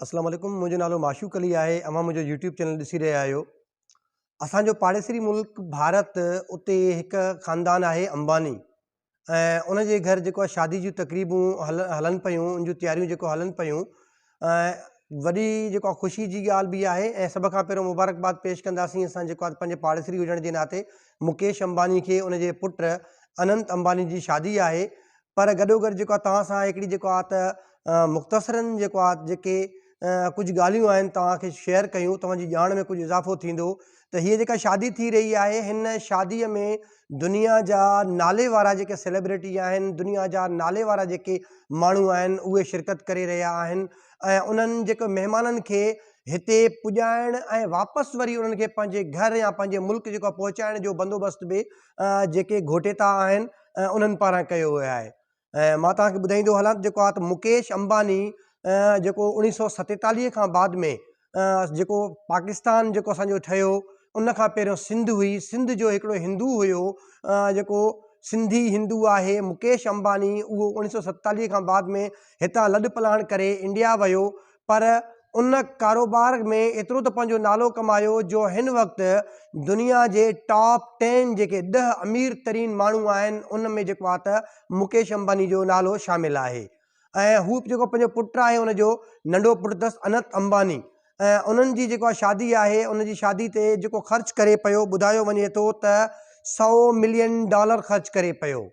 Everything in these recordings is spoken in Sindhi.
اسلام عليڪم منهنجو نالو معشوق علي آهي اوهان منهنجو يوٽيوب چينل ڏسي رهيا آهيو اسانجو پاڙيسري ملڪ ڀارت اتي هڪ خاندان آهي امباني ۽ ان جي گهر جيڪو آهي شادي جون تقريبون هل هلن پيون ان جون تياريون جيڪو هلن پيون ۽ وڏي جيڪو آهي خوشي جي ڳالهه به آهي ۽ سڀ کان پهريون مبارڪباد پيش ڪنداسين اسان جيڪو آهي پنهنجي پاڙيسري هجڻ جي ناتي مڪيش امباني کي ان جي پٽ اننت امباني جي شادي آهي پر گڏوگڏ جيڪو آ توهان سان هڪڙي جيڪو آ ته مختصرن جيڪو آ جيڪي ڪجهه ڳالهيون آهن توهان کي شيئر ڪيون توهان جي ڄاڻ ۾ ڪجهه اضافو ٿيندو ته هيء جيڪا شادي ٿي رهي آهي هن شاديء ۾ دنيا جا نالي وارا جيڪي سيليبريٽي آهن دنيا جا نالي وارا جيڪي ماڻهو آهن اهي شرڪت ڪري رهيا آهن ۽ انهن جيڪي مهمانن کي هتي پڄائڻ ۽ واپس وري انهن کي پنهنجي گهر يا پنهنجي ملڪ جيڪو آ پهچائڻ جو بندوبست به جيڪي گهوٽيتا آهن انهن پاران ڪيو ويو آهي ۽ مان توهان کي ٻڌائيندو هلان ته جيڪو آهي مڪيش امباني جيڪو اوڻيهه سؤ ستيتاليهه کان بعد ۾ جيڪو پاڪستان جيڪو اسان جو ٺهيو ان کان پهريون سنڌ هئي سنڌ جو هڪڙو هندو هيو جيڪو سنڌي هندو آهي مڪيش امباني اهو اوڻيهه سؤ ستيتاليهه کان بعد ۾ هتان لڏ پلاڻ ڪري انڊيا ويو پر ان ڪاروبار ۾ ايترو ته پنهنجو نالو ڪمايو جو هن وقت دنيا جي ٽاپ ٽين جيڪي ڏهه امير ترين ماڻهو آهن ان ۾ جيڪو آهي ته مڪيش امباني جو نالو شامل آهي ۽ هو جيڪو پنهنجو پٽ آهي ان جو ننڍو پٽ اٿس انت امباني ۽ انهن جي جيڪو شادي آهي ان جي شادي تي جيڪو خرچ ڪري پيو ٻڌايو وڃي ٿو ته سؤ ملين ڊالر خرچ ڪري پيو.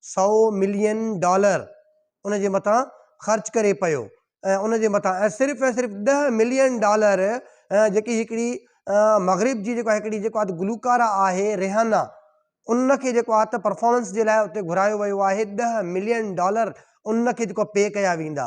سؤ ملين ڊالر ان جي مٿان خرچ ڪري پيو ۽ ان جي مٿان ۽ صرف ۽ صرف ڏهه ملين ڊالر جيڪي هڪڙي مغرب جي جيڪو هڪڙي جيڪو آهي گلوڪارا آهي ريحانا ان کي جيڪو آهي ته پرفارمنس جي لاء اتي گهرايو ويو آهي ڏهه ملين ڊالر ان کي جيڪو پي ڪيا ويندا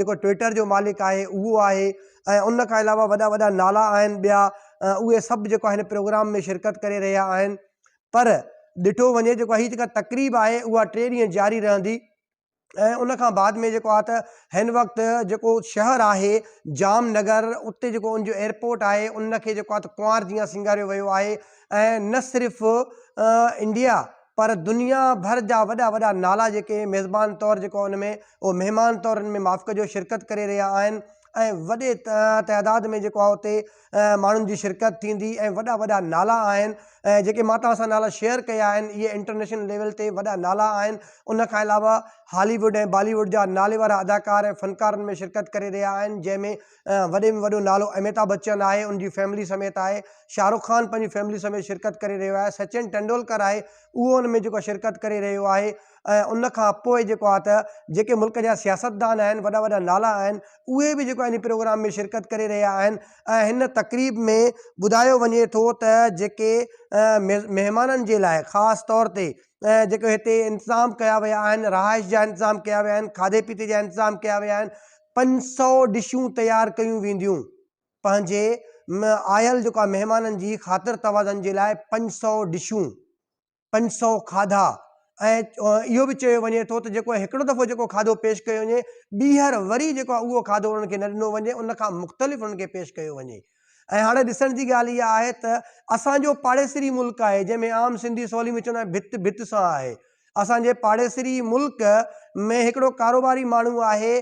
جيڪو ٽوئيٽر جو مالڪ آهي اهو آهي ۽ ان کان علاوه وڏا وڏا نالا آهن ٻيا اهي سڀ جيڪو هن پروگرام ۾ شرڪت ڪري رهيا آهن پر ڏٺو وڃي جيڪو هي جيڪا تقريب آهي اها ٽي ڏينهن جاري رهندي ۽ ان کان بعد ۾ جيڪو آهي ته هن وقت جيڪو شهر آهي جام نگر اتي جيڪو ان جو ايئرپورٽ آهي ان کي جيڪو آهي ته ڪنوار جيئان سينگاريو ويو آهي ۽ نه صرف انڊيا پر دنيا ڀر جا وڏا وڏا نالا جيڪي ميزبان طور جيڪو ان ۾ اهو مهمان طور ان ۾ معاف ڪجو شرڪت ڪري رهيا آهن ۽ وڏي تعداد ۾ جيڪو آهي اتي ماڻهن جي شرڪت ٿيندي ۽ وڏا وڏا نالا آهن جيڪي مان توهان سان نالا شيئر ڪيا آهن اهي انٽرنيشنل ليول تي وڏا نالا آهن ان کان علاوه هالي ووڊ ۽ بالي ووڊ جا ناليوارا اداڪار ۽ فنڪار ان ۾ شرڪت ڪري رهيا آهن جنهن ۾ وڏي ۾ وڏو نالو اميتاڀ بچن آهي ان جي فيملي سميت آهي شاهه رخ خان پنهنجي فيملي سميت شرڪت ڪري رهيو آهي سچن ٽنڊولڪر آهي اهو ان ۾ جيڪو شرڪت ڪري رهيو آهي ۽ ان کان پوء جيڪو آهي ته جيڪي ملڪ جا سياستدان آهن وڏا وڏا نالا آهن اهي به جيڪو آهي ان پروگرام ۾ شرڪت ڪري رهيا آهن ۽ هن تقريب ۾ ٻڌايو وڃي ٿو ته جيڪي مهمانن جي لاء خاص طور تي جيڪي هتي انتظام ڪيا ويا آهن رهائش جا انتظام ڪيا ويا آهن کاڌي پيتي جا انتظام ڪيا ويا آهن پنج سؤ ڊشون تيار ڪيون وينديون. پنهنجي م آيل جيڪا مهمانن جي خاطر توازن جي لاء پنج سؤ ڊشون، پنج سؤ کاڌا ۽ اهو به چيو وڃي ٿو ته جيڪو هڪڙو دفعو جيڪو کاڌو پيش ڪيو وڃي، ٻيهر وري جيڪو اهو کاڌو انهن کي نه ڏنو وڃي، ان کان مختلف انهن کي پيش ڪيو وڃي. ۽ هاڻي ڏسڻ جي ڳالهه اها آهي ته اسان جو پاڙيسري ملڪ آهي جنهن ۾ عام سنڌي سولي ۾ چوندا آهن ڀت ڀت سان آهي. اسان جي پاڙيسري ملڪ ۾ هڪڙو ڪاروباري ماڻهو آهي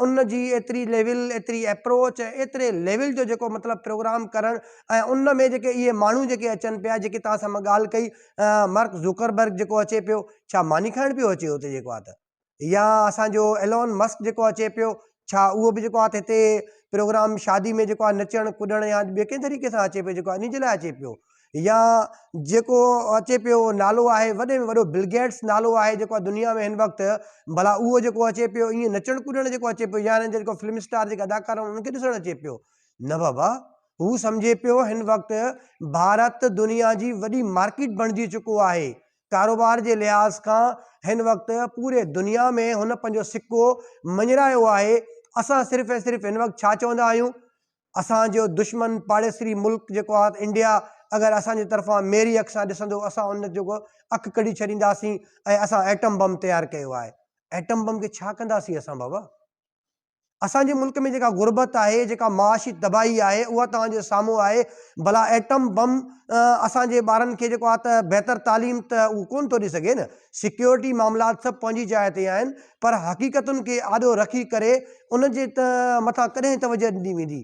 ان جي ايتري ليول ايتري ايپروچ ۽ ايتري ليول جو جيڪو مطلب پروگرام ڪرڻ ۽ ان ۾ جيڪي اهي ماڻهو جيڪي اچن پيا جيڪي توهان سان مان ڳالهه ڪئي مرڪ زوڪربرگ جيڪو اچي پيو ڇا ماني کائڻ پيو اچي اتي جيڪو آ ته. يا اسان جو ايلون مسڪ جيڪو اچي پيو ڇا اهو به جيڪو آهي هتي پروگرام شادي ۾ جيڪو آهي نچڻ ڪڏڻ يا ٻي ڪنهن طريقي سان اچي پيو جيڪو انهي جي لاء اچي پيو يا جيڪو اچي پيو نالو آهي وڏي ۾ وڏو بلگيٽس نالو آهي جيڪو آهي دنيا ۾ هن وقت ڀلا اهو جيڪو اچي پيو ائين نچڻ ڪڏڻ جيڪو اچي پيو يا هن جيڪو فلم اسٽار جيڪا اداڪار آهن انهن کي ڏسڻ اچي پيو نه بابا هو سمجهي پيو هن وقت ڀارت دنيا جي وڏي مارڪيٽ بڻجي چڪو آهي ڪاروبار جي لحاظ کان هن وقت پوري دنيا ۾ هن پنهنجو سڪو مڃرايو آهي، اسان صرف ۽ صرف هن وقت ڇا چوندا آهيون، اسان جو دشمن پاڙيسري ملڪ جيڪو آهي انڊيا اگر اسان جي طرفان ميري اک سان ڏسندو اسان ان جو اک ڪڍي ڇڏينداسين ۽ اسان ايٽم بم تيار ڪيو آهي، ايٽم بم کي ڇا ڪنداسين اسان بابا؟ اسان جي ملڪ ۾ جيڪا غربت آهي، جيڪا معاشي تباهي آهي اها توهان جي سامهون آهي، ڀلا ايٽم بم اسان جي ٻارن کي جيڪو آهي ته بهتر تعليم ته اهو ڪونه ٿو ڏئي سگهي نه، سيڪيورٽي معاملات سڀ پنهنجي جاء تي آهن پر حقيقتن کي آڏو رکي ڪري ان جي ته مٿان ڪڏهن توجه ڏني ويندي؟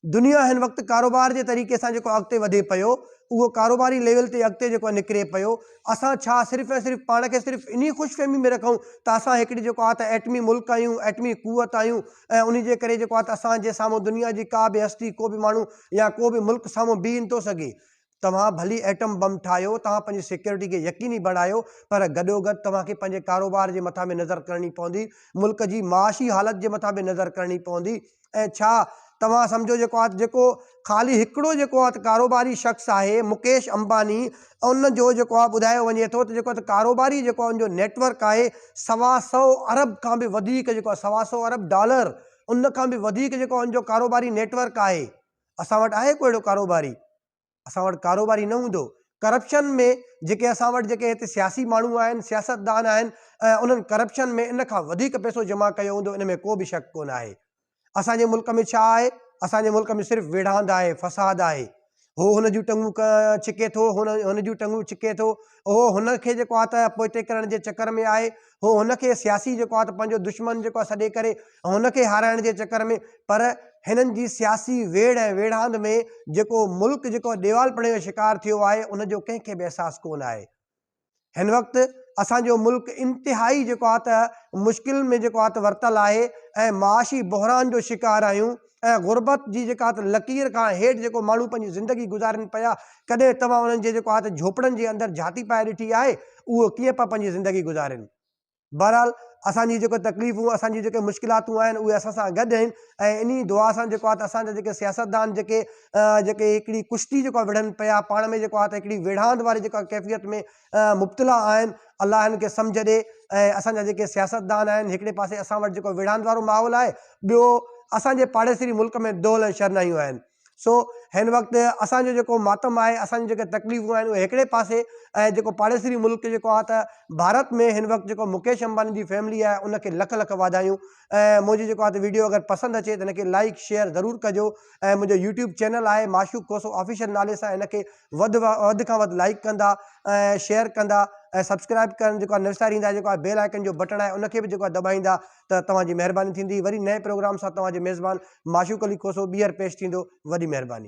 دنيا هن وقت ڪاروبار جي طريقي سان جيڪو اڳتي وڌي پيو اهو ڪاروباري ليول تي اڳتي جيڪو نڪري پيو اسان ڇا صرف ۽ صرف پاڻ کي صرف انهي خوش فهمي ۾ رکون ته اسان هڪڙي جيڪو آهي ته ايٽمي ملڪ آهيون ايٽمي قوت آهيون ۽ انهي جي ڪري جيڪو آهي ته اسان جي سامهون دنيا جي ڪا به هستي ڪو به ماڻهو يا ڪو به ملڪ سامهون بيهي نٿو سگهي توهان ڀلي ايٽم بم ٺاهيو، توهان پنهنجي سيڪيورٽي کي يقيني بڻايو، پر گڏوگڏ توهان کي پنهنجي ڪاروبار جي مٿان به نظر ڪرڻي پوندي، ملڪ جي معاشي حالت جي مٿان به نظر ڪرڻي پوندي ۽ ڇا توهان سمجهو جيڪو آ جيڪو خالي هڪڙو جيڪو آ ڪاروباري شخص آهي مڪيش امباني ان جو جيڪو آ ٻڌايو وڃي ٿو ته جيڪو ڪاروباري جيڪو آ ان جو نيٽ ورڪ آهي سوا سؤ ارب کان به وڌيڪ جيڪو آ سوا سؤ ارب ڊالر ان کان به وڌيڪ جيڪو آ ان جو ڪاروباري نيٽ ورڪ آهي. اسان وٽ آهي ڪو اهڙو ڪاروباري؟ اسان وٽ ڪاروباري نه هوندو. ڪرپشن ۾ جيڪي اسان وٽ جيڪي هتي سياسي ماڻهو آهن، سياستدان آهن ۽ انهن ڪرپشن ۾ ان کان وڌيڪ پئسو جمع ڪيو هوندو ان ۾ ڪو به شڪ ڪونه آهي. اسان جي ملڪ ۾ ڇا آهي؟ اسان جي ملڪ ۾ صرف ويڙهاند آهي، فساد آهي. هو هن جون ٽنگون ڇڪي ٿو، هو هن جون ٽنگون ڇڪي ٿو، هو هن کي جيڪو آهي ته پوئتي ڪرڻ جي چڪر ۾ آهي. هو هن کي سياسي جيڪو آهي ته پنهنجو دشمن جيڪو آهي سڏي ڪري ۽ هن کي هارائڻ جي چڪر ۾ پر هنن جي سياسي ويڙهه ۽ ويڙهاند ۾ جيڪو ملڪ جيڪو ڏيوالپڻي جو شڪار ٿيو آهي ان جو ڪنهن کي به احساس ڪونه آهي هن وقت اسان جو ملڪ انتهائي جيڪو آهي ته مشڪل ۾ جيڪو آهي ته ورتل آهي ۽ معاشي بحران جو شڪار آهيون ۽ غربت جي جيڪا هٿ لڪير کان هيٺ جيڪو ماڻهو پنهنجي زندگي گذارين پيا، ڪڏهن توهان انهن جي جيڪو هٿ جهوپڙن جي اندر جهاتي پائي ڏٺي آهي؟ اهو ڪيئن پيا پنهنجي زندگي گذارين؟ بهرحال اسان جي جيڪو تڪليفون اسان جي جيڪي مشڪلاتون آهن اهي اسان سان گڏ آهن ۽ انهي دعا سان جيڪو هٿ اسان جا جيڪي سياستدان جيڪي جيڪي هڪڙي ڪشتي جيڪو وڙهن پيا پاڻ ۾ جيڪو هٿ هڪڙي ويڙهاند واري جيڪا ڪيفيت ۾ مبتلا آهن، الله هنن کي سمجهه ڏي ۽ اسان جا جيڪي سياستدان آهن هڪڙي پاسي اسان وٽ جيڪو ويڙهاند وارو ماحول آهي ٻيو اسان جي پاڙيسري ملڪ ۾ دول ۽ شرنايون آهن سو هن وقت اسان جو جيڪو ماتم آهي اسان جون جيڪي تڪليفون آهن اهي هڪڙي پاسي ۽ جيڪو پاڙيسري ملڪ جيڪو آهي ته ڀارت ۾ هن وقت جيڪو مڪيش امباني جي فيملي آهي ان کي لک لک واڌايون ۽ منهنجي جيڪو آهي ته ويڊيو اگر پسند اچي ته هن کي لائڪ شيئر ضرور ڪجو ۽ منهنجو يوٽيوب چينل آهي معشوق کوسو آفيشل نالي سان هن کي وڌ وڌ کان وڌ لائيڪ ڪندا ۽ شيئر ڪندا ۽ سبسڪرائيب ڪرڻ جيڪو آهي نه وساريندا ۽ جيڪو آهي بيل آئيڪن جو بٽڻ آهي ان کي به جيڪو آهي دٻائيندا ته توهان جي مهرباني ٿيندي وري نئين پروگرام سان توهان جو ميزبان معشوق علي کوسو ٻيهر پيش ٿيندو وڏي مهرباني.